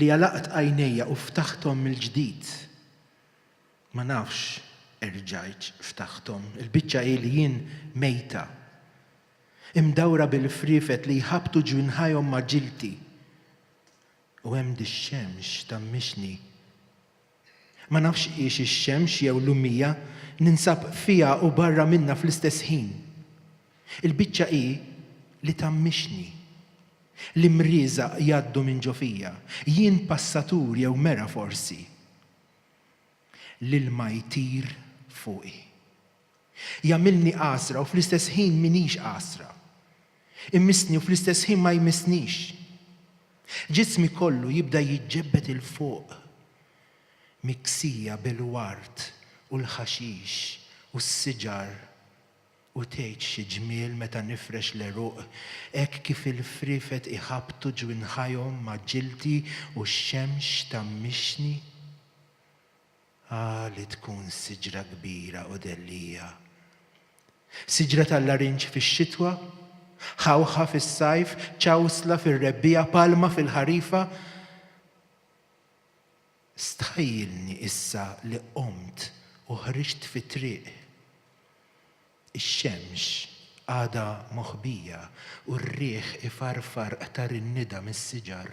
li għalaqt għajnejja u ftaħthom mill-ġdid. Ma nafx erġajtx ftaħthom. Il-biċċa hi li jien mejta. Imdawra bil-friefet li jħabbtu ġwinħajhom ma' ġilti. U hemm dix-xemx ta' mmixni. Ma nafx hix ix-xemx jew l-ummija, ninsab fiha u barra minnha fl-istess ħin. Il-biċċa hi li tgħammixni. L-imrieżaq jgħaddu minn ġo fija. Jien passatur jew mera forsi. L-ilma jtir fuqi. Jagħmilni għasra u fl-istess ħin m'iniex għasra. Imissni u fl-istess ħin ma jmissnix. Ġismi kollu jibda jiġġebbed 'il fuq, miksija bil-ward u l-ħaxix u s-siġar, u tgħid xi ġmiel meta nifrex l-għeruq hekk kif il-friefet iħabbtu ġwinħajhom ma' ġildi u x-xemx tgħammixni. A li tkun siġra kbira u dellija! Siġra tal-larinġ fix-xitwa, ħawħa fis-sajf, ċawsla fir-rebbiegħa, palma fil-ħarifa. Stħajjilni issa li qomt u ħriġt fit-triq. Ix-xemx għadha moħbija u r-riħ ifarfar qtar in-nida mis-siġar.